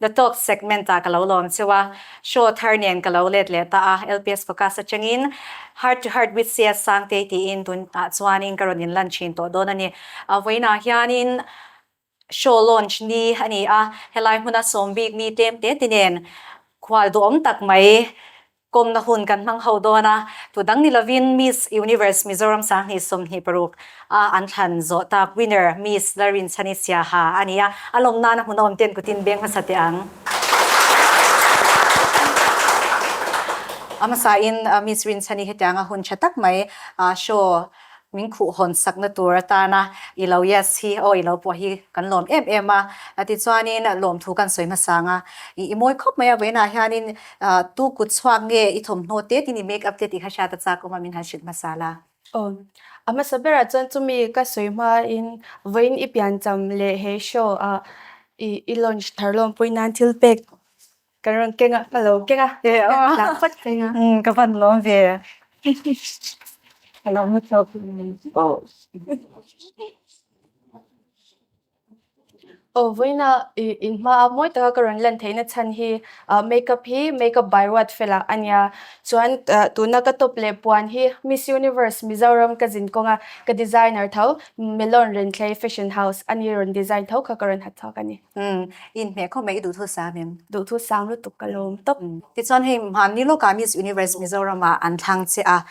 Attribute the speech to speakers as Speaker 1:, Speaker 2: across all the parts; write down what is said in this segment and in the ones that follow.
Speaker 1: The Top segment-ah ka lo lawm cheu a, show thar nen ka lo let leh ta a, LPS focus atangin Heart to Heart with CS Sangtei tiin tunah chuanin ka rawn inlan thin tawh dawn a ni. A vawiinah hianin show launch ni a ni a, helai hmuna sawm week ni tlem te ti nen khualduhawm tak mai Kawmna hun kan hmang ho dawn a, tun dang ni lovin Miss Universe Mizoram Sanghnih sawmhnih paruk a an thlan zawh tak winner Miss Larin Chanisiaha a ni a, a lawm nana hmun a awm ten kutin beng hmasa teh ang. A hmasain Miss Rin Chani hetianga hun tha tak mai show Min khuh hawn sakna tur atana i lo yes hi aw i lo pawh hi kan lawm em em a, tichuanin lawmthu kan sawi hmasa ang a, i mawi khawp mai a vawiinah hianin tu kut chhuak nge i thawmhnaw te tini make up te tih kha hriat a chak awm a min han hrilh hmasa la. Aw, a hmasa berah chuan chumi ka sawi hmain vawiin i piancham leh he show ah i launch thar lawmpui nan thil pek Ka rawn keng a, ka lo keng a. Tlak fat ka ring a. Ka van lawm ve a. Ka lo hmu tawk a. Aw vawiina, in hmaa mawi taka ka rawn lan theihna chhan hi makeup hi makeup by Ruat Fel ah a nia. Chuan tuna ka top leh puan hi Miss Universe Mizoram ka zin kawnga ka designer tho Melon Renthlei Fashion House ani rawn design tho kha ka rawn hath chhuak a ni. Umm, in hmeh khawp mai i duhthu sang em? Duhthu sang lutuk ka lawm tawp. Tichuan hei mahni lawkah Miss Universe Mizoram-a an thlang che a,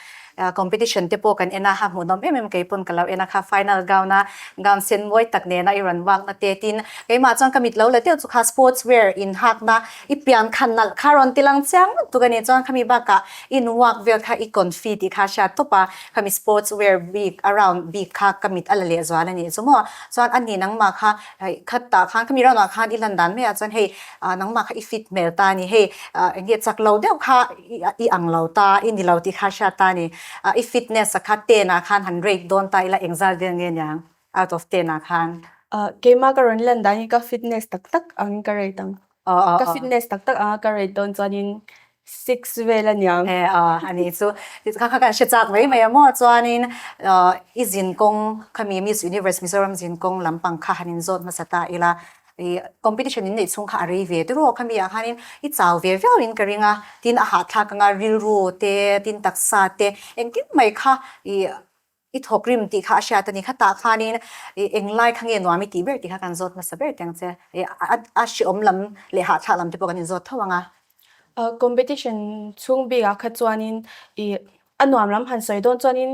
Speaker 1: competition te pawh kan en a, a hmuh nawm em em kei pawn ka lo en a kha, final gown-a gown sen mawi tak nena i rawn wakna te tin, keimah chuan ka mit lo la deuh chu kha sports wear in hakna i pian khan nalh kha rawn ti lang chiang lutuk a ni chuan khami bakah in wak vel kha i kawn fi tih kha a hriat tawp a, khami sports wear bik a round bik kha ka mit a la lehzual a nih chu maw, chuan a ni nangma kha Hei khat tah khan khami ram ah khan i lan dan mai ah chuan hei nangmah kha i fit hmel ta a ni. Hei eng nge chak lo deuh kha i ang lo ta, i ni lo tih kha a hriat ta a ni. I fitness a kha ten ah khan han rate dawn ta ila engzat vel nge niang out of ten ah khan. Keimah ka rawn lan dan i ka fitness tak tak ang in ka rate ang. Ka fitness tak tak anga ka rate dawn chuanin six vel a niang. He a ni chu kha kha kan hre chak mai mai a maw chuanin i zin kawng khami Miss Universe Mizoram zin kawng lam pang kha han inzawt hmasa ta ila i competition in neih chhung kha a rei ve duh rawh khami ah khanin i chau ve viau in ka ring a tin a hahthlak anga rilru te tin taksa te engkim mai kha i I thawk rim tih kha a hriat a ni. Khatah khanin ih eng lai kha nge nuam i tih ber tih kha kan zawt hmasa ber tiang che. Ih a hriawm lam leh hahthlak lam te pawh kan inzawt tho ang a. Competition chhung bik ah kha chuanin ih a nuam lam han sawi dawn chuanin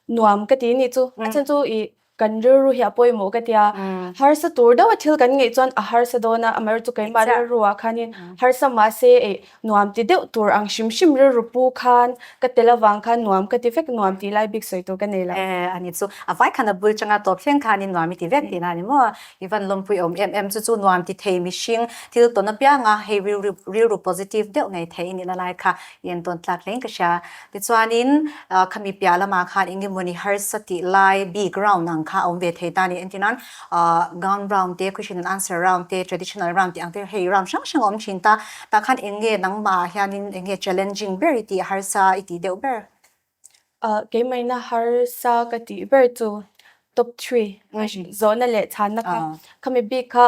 Speaker 1: nuam ka ti anih chu. A then chu ih kan rilru hi a pawimawh ka tia. Harsa tur deuha thil kan ngeih chuan a harsa dawn a. Amaherawhchu keimah rilru ah khanin harsa mahse ih Nuam ti deuh tur ang hrim hrim rilru pu khan ka tel avang khan nuam ka ti vek nuam tih lai bik sawi tur ka nei lo. A ni chu a vai khan a bul chang a tawp thleng khanin nuam i ti vek tih na a ni maw? I van lawmpui awm em em chu chu nuam ti thei mihring thil tawn apiang a hei rilru rilru positive deuh ngei thei i nihna lai kha i en tawn tlak hle in ka hria. Tichuanin khami piah lamah khan eng emawni harsa tih lai bik round ang kha a awm ve thei ta ni entin an Ahh Gown round te, Question and Answer round te, Traditional round tih ang te hei round hrang hrang a awm thin ta. Tah khan eng nge nangmah ah hianin eng nge challenging ber i tih harsa i tih deuh ber? Ahh keimahina harsa ka tih ber chu top three zawhna leh chhanna kha khami bik kha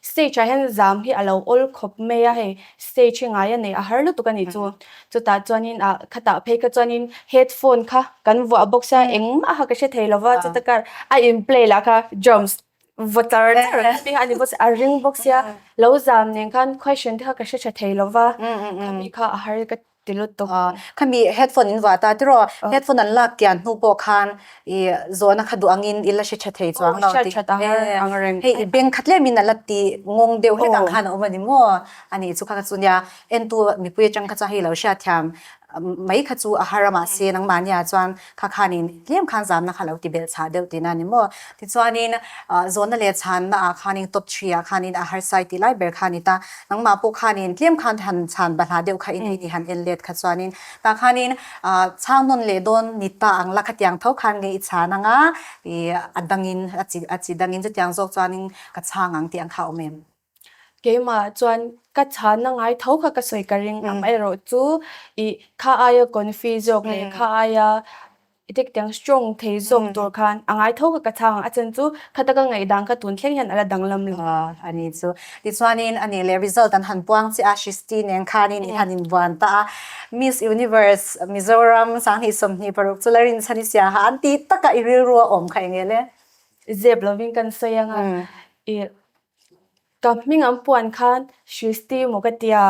Speaker 1: Stage ah hian zam hi a lo awl khawp mai a, hei stage hi ngai a neih a har lutuk a nih chu. Chutah chuanin a kha tah phei kha chuanin headphone kha kan vuah bawk sia, engmah kha ka hre thei lova chuta kar a in play lah kha drums vaw char char a ti kha a ni bawk sia, a ring bawk sia. Lo zam nen khan question te kha ka hre tha thei lova khami kha a har ka. Ti lut tawh a. Khami headphone in vah ta tiraw? Headphone an lak tian hnu pawh khan i zawhna kha duh angin i la hre tha thei chuang lo ti. Hei i beng kha tlem in a la ti ngawng deuh het ang khan a awm a ni maw? A nih chu kha chu nia. Entu mipui atang kha chuan hei i lo hriat thiam mai kha chu a har a mahse nangmahnia chuan Kha khanin tlem khan zamna kha lo ti belh chhah deuh tihna a ni maw? Tichuanin zawnna leh chhanna ah khanin top three ah khanin a harsai tih lai ber kha a ni ta. Nangmah pawh khanin tlem khan han chhan ba hlah deuh kha in hei ni han en let kha chuanin tah khanin chhang nawn leh dawn ni ta ang la khatiang tho khan nge i chhan anga i a dangin a chi dangin chutiang zawk chuanin ka chhang ang tih ang kha a awm em? Keimah chuan ka chhana ngai tho kha ka sawi ka ring ang erawh chu i kha aia confuse zawk leh kha aia i thik tiang strong thei zawk tur khan a ngai tho kha ka chhang ang a chen chu khata ka ngaihdan kha tun thleng hian ala danglam lo. A ni chu. Tichuanin a nih leh result an han puang chiah a Shristi nen khanin i han invuan ta a Miss Universe Mizoram sang hnih sawm hnih paruk chu Larin Sanisia ha an tih takah i rilru a awm kha enge le? Zep lovin kan sawi anga i Ka hming ang puan khan Shristi maw ka tia.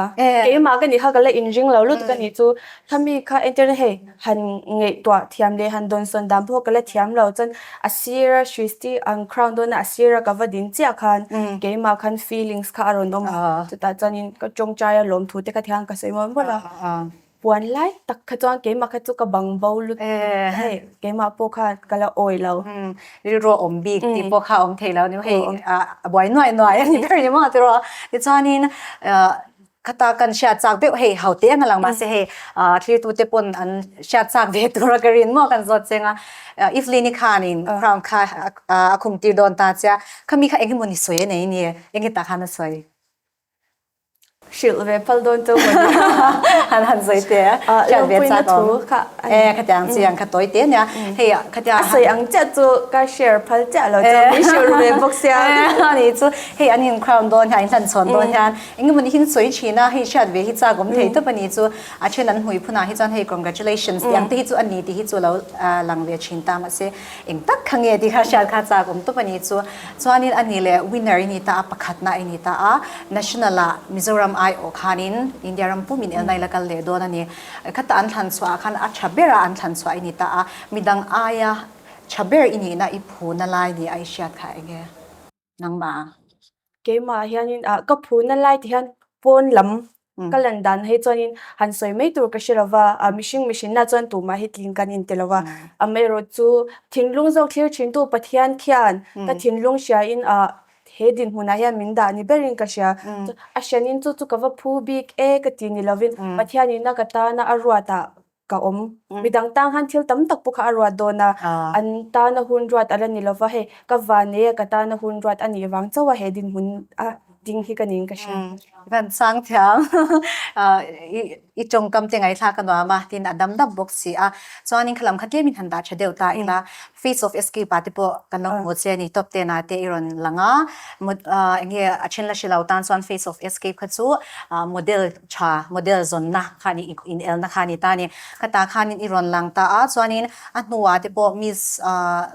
Speaker 1: Keimah ka nih kha ka la inring lo lut ka nih chu Thami kha entirna hei han ngaihtuah thiam leh han dawnsawn dan pawh ka la thiam lo chuan a sira Shristi an crown dawna a sira ka va ding chiah khan keimah khan feelings kha a rawn awm a chutah chuanin ka tawngtai a lawmthute kha tiang kha ka sawi mual mual a. Puan lai tak kha chuan keimah kha chu ka bang bo lut hei keimah pawh kha ka la awi lo. Rilru a awm bik tih pawh kha a awm thei lo animaw hei a buai nuai nuai a ni ber ni maw tiraw. Tichuanin khata kan hriat chak deuh hei haute anga lang mahse hei thirtute pawn an hriat chak ve tura ka rin maw kan zawt cheng a. Evelyn-i khanin crown kha a khum tir dawn ta che a, khami kha eng emaw ni sawi a nei nia, eng nge tah khan a sawi? Hrilh ve phal dawn tawh maw nia? An han sawi te a. Ah, Lungpuina thu kha a ni. Eh, khatiang chiang kha tawi te nia. Hei ah khatiang a sawi ang chiah chu ka share phal chiah lo chuan min hriur ve bawk sia. Eh, a ni chu. Hei an in crown dawn hian, an in hlan chhawn dawn hian eng emaw nihin sawi thin a hei hriat ve hi chak awm thei tawp a ni chu. A then an hmui phun ah hi chuan hei congratulations tih ang te hi chu a ni tih hi chu a lo lang ve thin ta mahse. Eng tak kha nge tih kha hriat kha chak awm tawp a ni chu. Chuanin a ni leh winner i ni ta a, pakhatna i ni ta a. National ah Mizoram ai awh khanin India ram pum in elna ila kal leh dawn a ni. Khata an thlan chhuah ah khan a tha ber a an thlan chhuah i ni ta a. Midang aia tha ber i nihna i phu na lai nia i hriat kha enge. nangmah a. Keimah hianin a, ka phu na lai tih hian pawn lam ka lan dan na hi chuanin han sawi mai tur ka hre lo va, a mihring mihrinah chuan tumah hi tling kan inti lo va, amaherawh chu thinlung zawk thlir thintu Pathian khian ka thinlung hriain a, he dinhmunah hian min dah ni berin ka hria, a hrianin chu chu ka va phu bik e ka ti ni lovin Pathian inah ka tana a ruatah ka awm. Midang tang han thil tam tak pawh kha a ruat dawn a, an tana hun ruat a la ni lova hei, ka vane ka tana hun ruat a nih vang chauh a he dinhmun a ding hi ka ning ka hria. Van Sangthiang, i tawngkam te ngaithla ka nuam a, tin a dam dap bawk si a, chuan in khalam kha tlemin han dah tha deuh ta ila, Feats of Escape-a te pawh kan lo hmu che a ni, Top Ten-a te i rawn lang a, eng nge a then la hre lo tan chuan Feats of Escape kha chu model tha, model zawnna kha a ni, inelna kha a ni ta a ni. Khata khanin i rawn lang ta a, chuanin a hnua te pawh Miss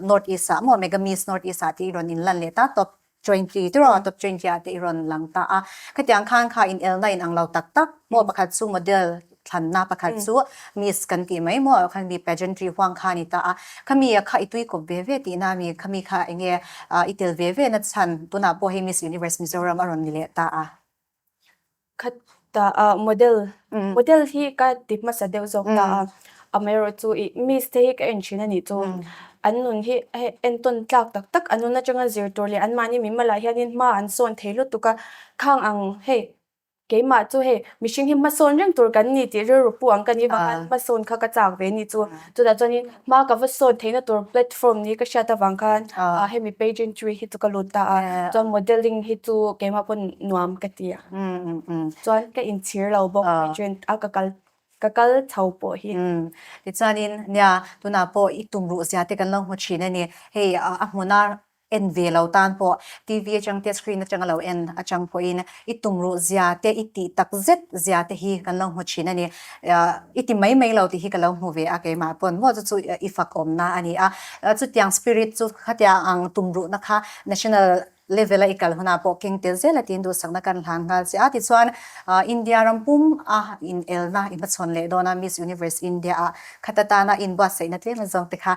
Speaker 1: North East-a, maw Mega Miss North East-a tih i rawn inlan leh ta, Top. Twenty, chu rawh top twenty ah te i rawn lang ta a. Khatiang khan kha inelna in ang lo tak tak. Maw pakhat chu model thlanna pakhat chu miss kan tih mai maw khan mi pageantry huang kha a ni ta a. Khami ah kha i tuikawp ve ve tihna a mi, khami kha enge i tel ve ve nachhan tunah pawh hei miss universe Mizoram a rawn ni leh ta a. Khat ta a model, model hi ka ti hmasa deuh zawk ta a, amaerawh chu i miss te hi ka en thin a nih chu. An nun hi hei entawn tlak tak tak an nun atanga zir tur leh an mahni min mal ah hianin hma an sawn thei lutuk a, khang ang hei keimah chu hei mihring hi hma sawn reng tur kan ni tih rilru pu ang ka nih vang a, hma sawn kha ka chak ve a nih chu. Chutah chuanin hma ka va sawn theihna tur platform ni ka hriat avang khan a hemi pageantry hi chu ka lut ta a, chuan modelling hi chu keimah pawn nuam ka ti a, chuan ka inchhir lo bawk pageant a ka kal ka kal chho pawh hi. Tichuanin nia tunah pawh i tumruh ziahte kan lo hmu thin a ni, hei a hmuna en ve lo tan pawh TV atang te screen atanga lo en atang pawhin i tumruh zia te i tih tak zet zia te hi kan lo hmu thin a ni. I ti mai mai lo tih hi ka lo hmu ve a, keimah pawn maw chu chu i fak awmna a ni a. Chutiang spirit chu khatia ang tumruhna kha national level a i kal hunah pawh keng tel zel a tiin duhsakna kan hlan nghal che a. Tichuan India ram pum a inelna i hmachhawn leh dawn a, Miss Universe India-ah khat atana inbuatsaihna tlem azawng te kha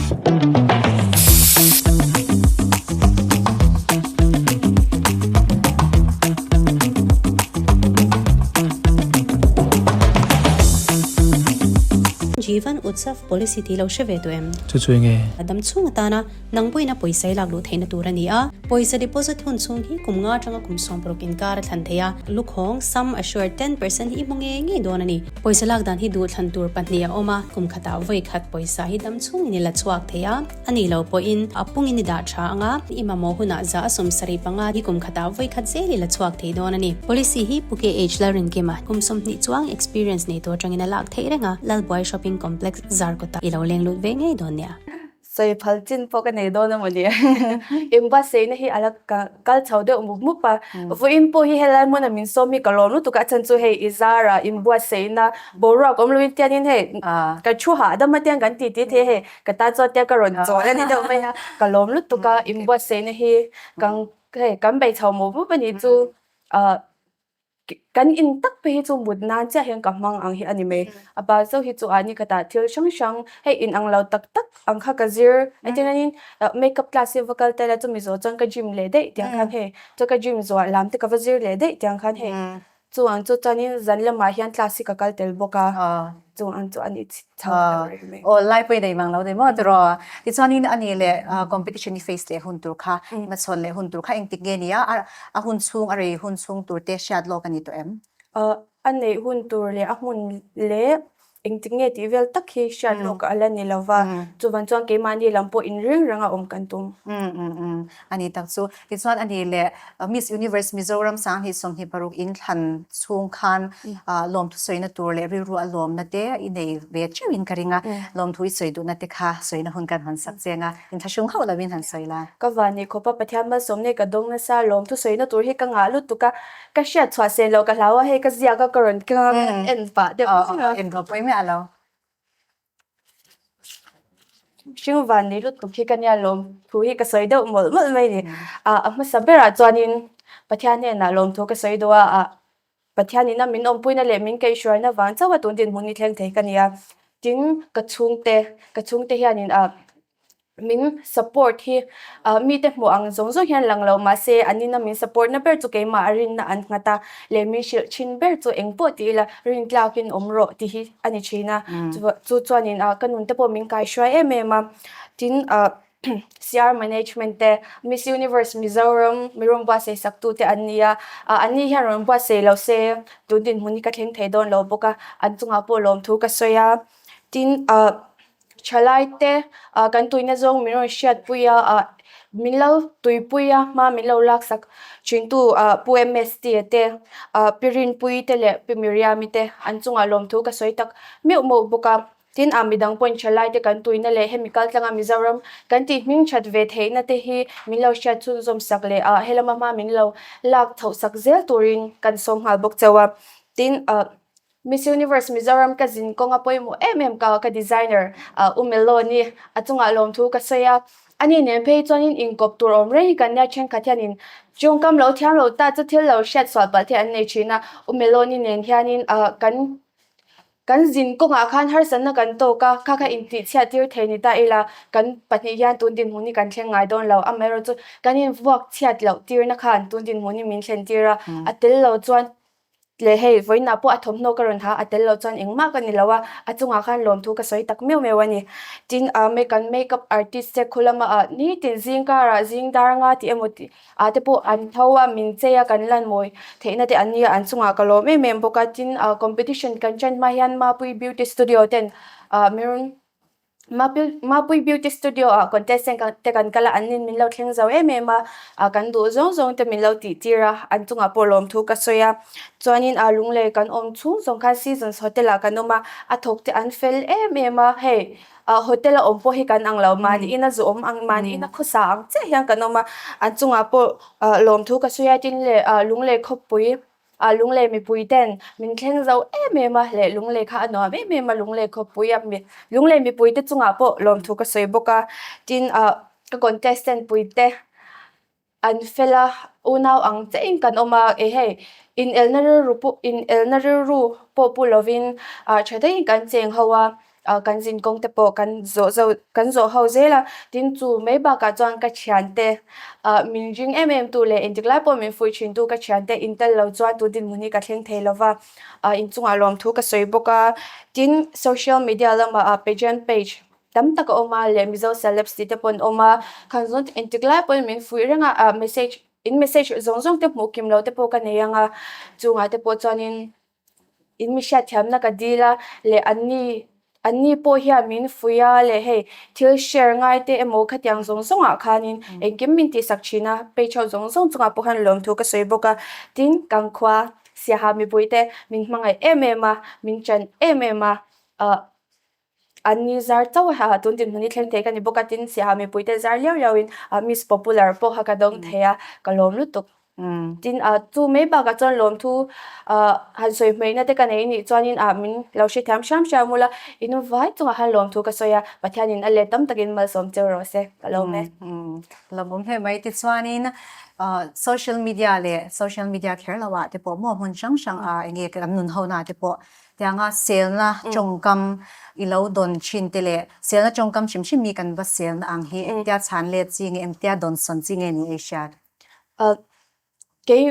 Speaker 1: Jivan Utsav policy tih lo hre ve tawh em? Chu chu enge? A dam chhung atana nang buaina pawisa i lakluh theihna tur a ni a. Pawisa deposit hun chhung hi kum nga atanga kum sawmpuruk inkar a thlan thei a. Lukhawng, sum assured ten percent hi i hmu ngei ngei dawn a ni. Pawisa lak dan hi duh thlan tur pahnih a awm a, kum khatah vawi khat pawisa hi dam chungin i la chhuak thei a, a nih loh pawhin a pungin i dah tha ang a, i mamawh hunah zah a sawm sarih panga hi kum khatah vawi khat zel i la chhuak thei dawn a ni. Policy hi Phuket Age la rinkim a, kum sawmhnih chuang experience nei tur atangin a lak theih reng a, Lalbuai Shopping Complex zar kawtah i lo leng lut ve ngei dawn nia. Sawi phal chin pawh ka nei dawn amaw ni e. Engba seina hi ala kal chho deuh mup mup a. Vawiin pawh hi helai hmuna min sawm hi ka lawm lutuk a, a chhan chu hei i zar a, inbuat seina boruak awm loin tianin hei ka thu hah dawn mah tian kan ti ti thei e hei ka tan chuan tian ka rawn chawl a ni deuh mai a, ka lawm lutuk a, inbuat seina hi kan hei kan bei chho mup mup a nih chu a. Kan in tak pi hi chu mut nan chiah hian ka hmang ang hi a ni mai. A pa Zo hi chu a ni khatah thil hrang hrang hei in ang lo tak tak ang kha ka zir. A ti hianin makeup class hi a va kal tel a, chumi zawh chuan ka gym leh daih tiang khan hei chu ka gym zuah lam te ka va zir leh daih tiang khan hei chu ang chu chuanin zan lamah hian class hi ka kal tel bawk a. Chu an chu an i chhit chho ber reng mai. Aw, lai pawhin a inang lo nei maw? Tiraw? Tichuanin a nih leh competition i face leh hun tur kha, i hmachhawn leh hun tur kha engtik nge ni a? A hun chhung, a rei hun chhung tur te hriat lawk a ni tawh em? A neih hun tur leh a hmun leh engtik nge tih vel tak hi hriat lawk a la ni lo va, chu van chuan keimahni lam pawh inringrang a awm kan tum. A nih tak chu. Tichuan a nih leh, Miss Universe Mizoram sang hnih sawmhnih paruk in thlan chhung khan lawmthu sawina tur leh rilruah lawmna te i nei ve teuh in ka ring a, lawmthu i sawi duhna te kha sawina hun kan han sak cheng a, in thlahrung hauh lo in han sawi la. Ka van nih khawpa Pathian malsawm nei ka dawng nasa lawmthu sawina tur hi ka ngah lutuk a, ka hriat chhuah seh loh ka hlau a, hei ka ziak a ka rawn keng a, ka en pah deuh zing a. Eng rawh pawimeh a lo. Hring van ni lutuk hi ka nia lawm thu hi ka sawi deuh mawlh mawlh mai ni. Ah, a hmasa berah chuanin Pathian hnenah lawm thu ka sawi daw a, ah, Pathianin a min awmpuina leh min kaihhruaina vang chauha tun dinhmun ni thleng thei ka nia. Tin, ka chhungte, ka chhungte hianin ah, min support hi mite hmuh ang zawng zawng hian lang lo. Mahse, an ina min support na ber chu keimah a rinna an nghat a, leh min hrilh thin ber chu engpawh ti ila rin tlakin awm rawh ti hi a ni thin a. Chu chuanin ka nun te pawh min kai hruai em em a. Tin, CR management te, Miss Universe Mizoram min rawn buatsaih sak tu te an ni a, an ni hian rawn buatsaih lo se tun dinhmun hi ka thleng thei dawn lo bawk a, an chungah pawh lawmthu ka sawi a. Tin, Thalaite ah kan tuihna zawng min rawn hriatpui a, ah min lo tuipui a, hma min lo laksak thintu ah Pu MST te, ah Pi Rinpuii te leh Pi Miriami te an chungah lawmthu ka sawi tak meuh meuh bawk a. Tin, ah midang pawhin Thalaite kan tuihna leh hemi kaltlanga Mizoram kan tih hming that ve theihna te hi min lo hriat chhunzawm sak leh ah helama hma min lo lak chhoh sak zel turin kan sawm nghal bawk chauh a. Tin, ah. Miss Universe Mizoram ka zin kawng a pawimawh em em ka ka designer a u mello a ni a chungah lawmthu ka sawi a a nih nen phei hi chuanin inkawp tur awm reng hi kan nia thenkhat hianin chung kam lo thiam lo ta chu thil lo hriat sual palh te an nei thin a u mello ni nen hianin a kan kan zin kawng ah khan harsanna kan tawk a kha kha intihchhiat tir thei ni ta ila kan pahnih hian tun dinhmun hi kan thleng ngai dawn lo amaherawhchu kan invuak chhiat loh tirna khan tun dinhmun hi min thlen tir a a tel lo chuan Tle hei, vawiinah pawh a thawmhnaw ka rawn ha a tel loh chuan engmah ka ni lo a, a chungah khan lawmthu ka sawi tak meuh meuh a ni. Tin, a make an makeup artist che khulama ah nitin zing karah zing dar anga tih emaw tih ah te pawh an tho a, min chei a, kan lan mawi theihna te an ni a, an chungah ka lawm em em bawk a. Tin, competition kan chen hma hian Mapui Beauty Studio ten min Mapui Beauty Studio ah contestant te kan kal a, an in min lo thleng zo em em a, a kan duh zawng zawng te min lo tih tir a, an chungah pawh lawm thu ka sawi a, chuanin a lung lei kan awm chhung zawng khan Seasons Hotel ah kan awm a, a thawk te an fel em em a, hei hotel a awm pawh hi kan ang lo, mahnihin a zu awm ang, mahnihin a khawsa ang chiah hian kan awm a, an chungah pawh lawm thu ka sawi a, tin le lung lei khawpui A lunglei mipui ten min thleng zo em em a, leh lunglei kha a nuam em em a, lunglei khawpui a mit. Lunglei mipui te chungah pawh lawmthu ka sawi bawk a, tin ah ka contestant pui te an fel a, unau ang che in kan awm a, e hei inelna rilru pawh inelna rilru pawh pu lovin ah tha taiin kan cheng ho a, A kan zin kawng te pawh kan zawh zo kan zawh ho zel a, tin chu mai bakah chuan ka thiante ah min ring em em tu leh engtik lai pawh min fuih thin tu ka thiante in tel lo chuan tu dinhmun hi ka thleng thei lo va, ah inchungah lawm thu ka sawi bawk a, tin social media lamah ah pageant page tam tak a awm a leh Mizo celebs tih te pawh an awm a, khan zawng te engtik lai pawhin min fuih reng a, ah message in message zawng zawng te hmuh kim lo te pawh ka nei ang a, chungah te pawh chuanin In mi hriatthiamna ka dil a, leh an ni, an ni pawh hian min fuih a, leh hei thil share ngai te emaw khatiang zawng zawngah khanin engkim min tih sak thin a, page ho zawng zawng chungah pawh khan lawmthu ka sawi bawk a. Tin, kan khua siaha mipui te min hmangaih em em a, min ṭan em em a, ah. An ni zar chauh a ha, tun dinhmun hi thleng thei ka ni bawk a, tin siaha mipui te zar liau liau in Miss Popular pawh kha ka dawng thei a, ka lawm lutuk. Tin, chu mai bakah chuan lawmthu han sawi hmeihna te ka nei nih chuanin min lo hrethiam hriam hriam ula, i nu vai chungah khan lawmthu ka sawi a, Pathianin a let tam takin malsawm cheu rawh se, ka lawm e. Hlauhawm hle mai te chuanin social media leh social media kher lohah te pawh maw hmun hrang hrang ah enge an nun ho na te pawh Tianga selna tawngkam i lo dawn thin te leh selna tawngkam hrim hrim hi kan va sel na ang hi engtia chhan let chi nge, engtia dawnsawn chi nge ni ei hriat? Erh, kei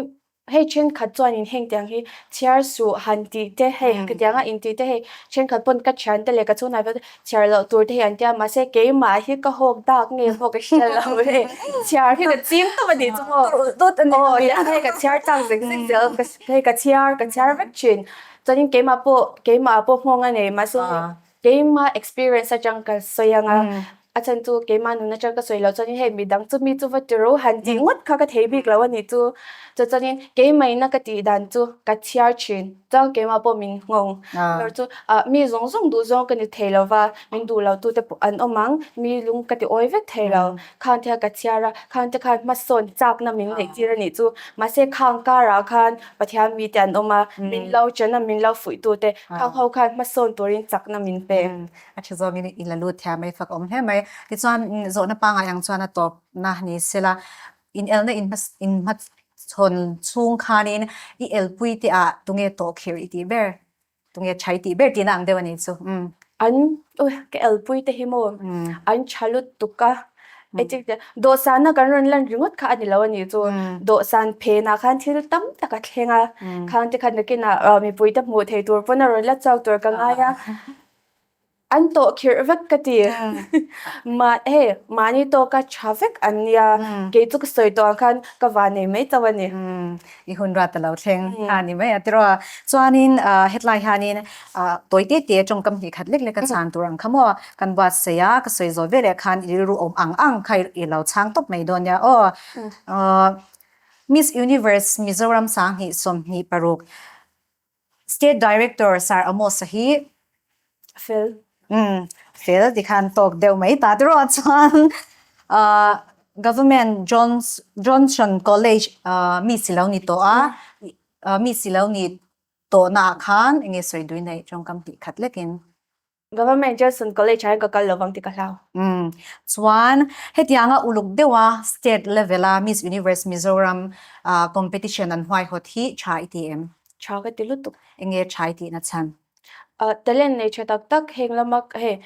Speaker 1: hei thenkhat chuanin heng tiang hi chhiar suh han tih te hei tianga intih te hei thenkhat pawn ka thian te leh ka chhungnai vel te chhiar loh tur te hi an tia mahse keimah hi ka hawk dak nge pawh ka hriat lo e, chhiar hi ka chim tawp a ni chu maw? Tut a nih ang. Aw, hei ka chhiar tak zek zek zel ka Hei ka chhiar, ka chhiar vek thin. Chuanin keimah pawh, keimah pawh nghawng a nei. Mahse keimah experience atang ka sawi ang a. A then chu keimah nun atang ka sawi loh chuan hei mi dang chu mi chu va ti ro han tih ngawt kha ka thei bik lo a nih chu. Chu chuanin keimah ina ka tih dan chu ka chhiar thin. Chuan keimah pawh min nghawng. Ber chu mi zawng zawng duh zawng ka ni thei lo va, min duh loh tute pawh an awm ang. Mi lung ka ti awi vek thei lo. Khang thil ka chhiar a, khangte khan hmasawn chakna min ngaihtir a nih chu. Mahse, khang karah khan Pathian mite an awm a, min lo chen a, min lo fuihtute khang ho khan hmasawn turin chakna min pek. A thi zawngin i la lut thia mai fak awm hle mai. Tichuan, zawhna pangai ang chuan a tawpna ni sela, inelna inhmasawn chhung khanin i elpuiteah tunge tawh khirh i tih ber? Tunge chhai tih ber tihna ang deuh a ni chu. Umm. An, ui, ka elpui te hi maw, an tha lut tuk a, etcetera tih a. Dawhsanna kan rawn lan ringawt kha a ni lo a ni chu. Dawhsan phenah khan thil tam tak a thleng a, khangte khat nakinah mipuite hmuh theih tur pawn a rawn la chau tur ka ngai a. An tawh khirh vek ka ti. Mah he, mahni tawk a tha vek an nia, kei chu ka sawi tawh ang khan ka va nei mai tauh a ni. I hun rat a lo thleng a ni mai a ti rawh. Chuanin hetlai hianin tawi te te tawng ka hnih khat lek lek a chang tur ang kha maw? Kan buatsaih a, ka sawi zawh veleh khan i rilru awm ang ang kha i lo chhang tawp mai dawn nia aw. Miss Universe Mizoram sang hnih sawm hnih paruk State Director Sir Amos a hi fel umm fel tih khan tawk deuh mai ta te ruah chuan Government Johns Johnson College mi si lo ni tawh a mi si lo ni tawh naah khan enge sawi duina i tawngkam hnih khat lekin Government Gelsund College-ah hian ka kal lo vang tih ka hlau. Umm. Chuan hetianga uluk deuha state level-a Miss Universe Mizoram competition an huaihawt hi tha i ti em? Tha ka ti lutuk. Enge tha i tihna chhan? Talent nei tha tak tak heng lama hei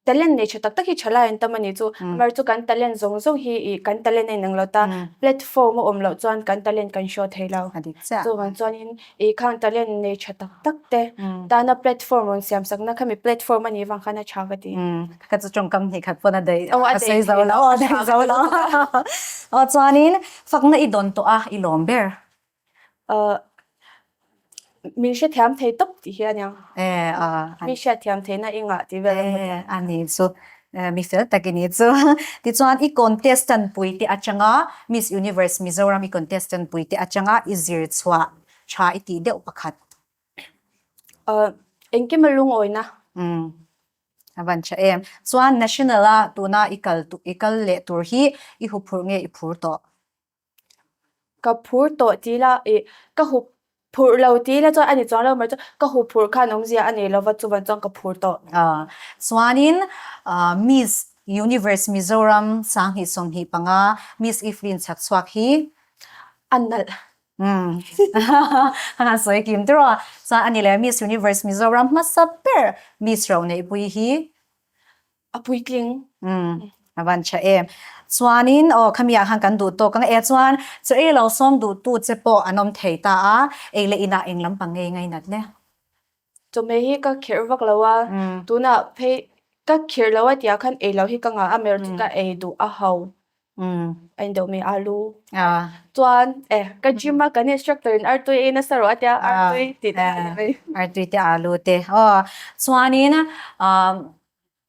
Speaker 1: talent nei tha tak tak hi tha lai an tam a ni chu. Mar chu kan talent zawng zawng hi ih kan talent a inang lo ta. Platform a awm loh chuan kan talent kan show thei lo. A dik chiah. Chuvang chuanin. I khang talent nei tha tak tak te dahna platform rawn siam sak na khami platform a nih vang khan a tha ka ti. Ka chu tawngkam hnih khat pawn a daih a sawi zo lo a daih zo lo a chuanin fakna i dawn tawh a i lawm ber. Min hrethiam thei tawp tih hian a mi hriatthiam theihna i ngah tih vel a hmu thei. A ni chu Mi fel tak i ni chu. Tichuan i contestant pui te atanga Miss Universe Mizoram i contestant pui te atanga i zir chhuah tha i tih deuh pakhat. Eng kima lungawina? A van tha em. Chuan national-a tuna i kal leh tur hi i huphurh nge i phur tawh? Ka phur tawh ti la ih, ka hu phurh lo ti la chuan a ni chuang lo mai chu ka hu phurh khan awmzia a nei lova chuvan chuan ka phur tawh. Chuanin Miss Universe Mizoram sanghnih sawmhnih panga Miss Evelyn Chhakchhuak hi a nalh a han sawi kim tura chuan a ni leh Miss Universe Mizoram hmasa ber Miss Roneihpui hi A puitling. Umm, a van chha em. Chuanin, aw, khami ah khan kan duh tawk ang e. Chuan chu ei lo sawm duhtu che pawh an awm thei ta a, ei leh inah eng lampang ngei ngai nat le. Chawhmeh hi ka kherh vak lo a, tunah phei ka khirh lo a tia khan ei lo hi ka ngah a, merh chu ka ei duh a hau. A indoh mi a lu. Chuan, eh, ka gym a kan instructor in Artui ei nasa rawh a tia Artui tih te a ni mai. Artui te a lu te. Aw, chuanin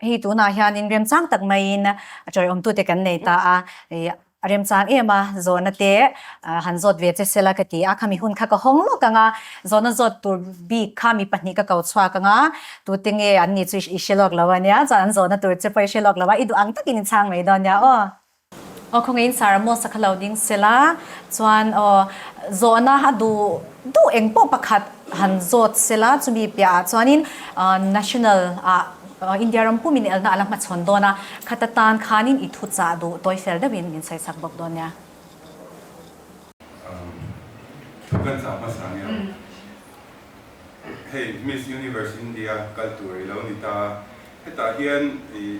Speaker 1: hei tunah hianin remchang tak maiin tawlhawmtute kan nei ta a. A remchang em a, zawhna te han zawt ve che sela ka ti a. Khami hun kha ka hawng lawk ang a, zawhna zawt tur bik kha mi pahnih ka ko chhuak ang a. Tu tinge an ni chu i hre lawk lo a nia, chuan an zawhna tur che pawh i hre lawk lo a, i duh ang takin i chhang mai dawn nia aw. Aw khawnge in sara maw sakha lo ding se la, chuan aw zawhna a duh duh eng pawh pakhat han zawt se la, chumi piah ah chuanin National ah India ram pum in elna a la hmachhawn dawn a, khata tan khanin i thu chah duh tawi fel deuh in min sawi sak bawk dawn nia. Aw thu kan chah hmasa nia aw. Hei Miss Universe India kal tur i lo ni ta a, hetah hian ih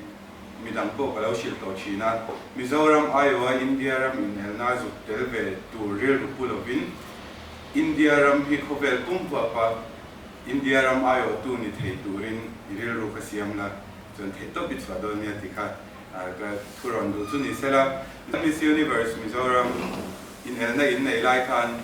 Speaker 1: midang pawh ka lo hrilh tawh thin a, Mizoram aiawha India ram inelna zuk tel ve tur rilru pu lovin India ram hi khawvel pum huapa India ram aiawhtu ni thei turin i rilru ka siam la, chuan theih tawp i chhuah dawn nia ti kha ka thu rawn duh chu ni sela, Miss Universe Mizoram inelna in nei lai khan.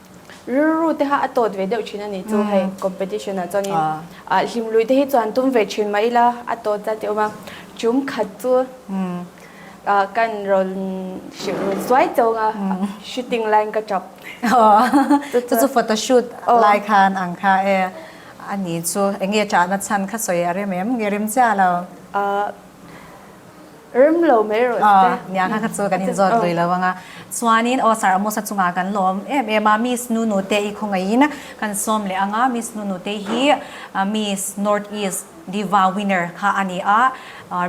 Speaker 1: Rilru te kha a tawt ve deuh thin a nih chu hei competition ah chuanin ah hlim lui te hi chuan tum ve thin mai ila a tawt zat hi a awm a. Tum khat chu ah kan rawn hrih run suai chawng a, shooting line ka tap. Aw chu chu photo shoot lai khan ang kha e a ni chu, eng nge chahna chhan kha sawi a rem em? Nge rem chiah lo? Ah. Rim lo mai rawh sir. Aw, nia kha kha chu kan inzawt lui lo ang a. Chuanin aw sir a musa chungah kan lawm em em a, Miss Nunu te i khawngaihin kan sawm leh ang a, Miss Nunu te hi Miss North East Diva Winner kha a ni a,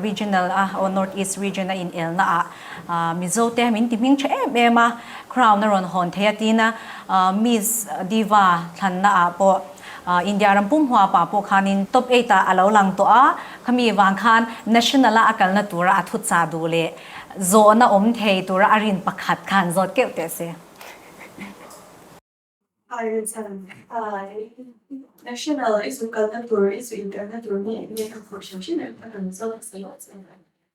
Speaker 1: Regional a aw North East Region a inelnaah Mizo te min ti hming tha em em a, Crown a rawn hawn thei a tina Miss Diva thlannaah pawh, India ram pumhua pa pawh khanin top eight ah a lo lang tawh a, khami vang khan national a a kalna tura a thuchah duh leh zawhna awm thei tura a rin pakhat kha an zawt keuh teh se. National i zu kalna tur i zu inkarna tur nge enge ka khawhchhiam thin em kha kan zawt a si lo che.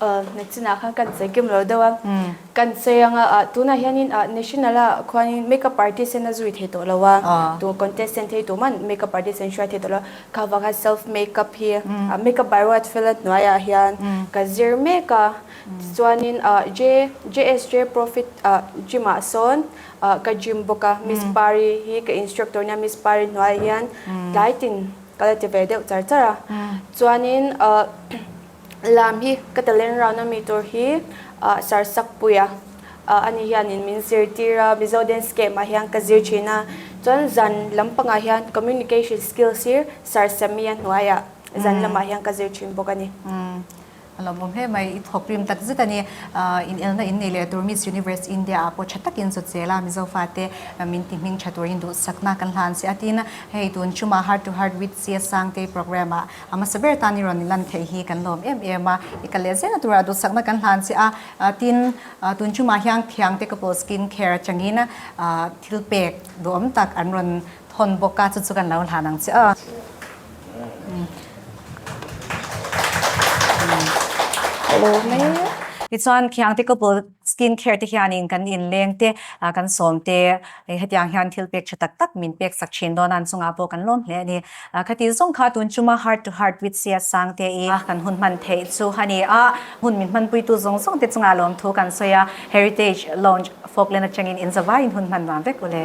Speaker 1: Hmeichhina khan kan chei kim lo deuh a, kan chei ang a, tunah hianin national a khuanin makeup artist hian a zui thei tawh lo a, tu contestant thei tur man makeup artist an hria thei tawh lo a, kha vang hian self makeup hi makeup by Ruat Fela hnuaiah hian ka zir mek a, tichuanin JSJ Profit Gym ah sawn ka gym bawk a, Miss Pari hi ka instructor nia, Miss Pari hnuaiah hian tlai tin. Ka la ti ve deuh char char a. Chuanin lam hi ka talent round ami tur hi Sarsakpuia a ni hianin min zirtir a, Mizo Dance Camp ah hian ka zir thin a. Chuan zan lam pangah hian Communication Skills hi Sarsami a hnuaiah zan lamah hian ka zir thin bawk a ni. A lo bawm hle mai, i thawk rim tak zet a ni. Inelna in neih leh tur Miss Universe India-ah pawh tha takin zaw chel a, Mizo fate min tihning tha turin duhsakna kan hlan si a. Tin, hei tun Chuma Heart to Heart with Sia Sangtei programme-a a hmasa ber tan i rawn ni lan theih hi kan lawm em em a, i kal leh zel na tura duhsakna kan hlan si a. Tin, tun Chuma hian thiangte couple skin care atangin thil pek duh awm tak an rawn. Phawn bawk a, chu chu kan lo hlan ang che aw. Tichuan Khiang te couple skin care te hianin kan inleng te, kan sawm te, hetiang hian thil pek tha tak tak min pek sak thin dawn a, an chungah pawh kan lawm hle a ni. Khati zawng kha tun tuma heart to heart with Sia Sang te i kan hun hman theih chu a ni a, hmun min hman puitu zawng zawng te chungah lawm thu kan sawi a, Heritage Lounge Folkland atangin inzavaiin hun hman nuam vek u le.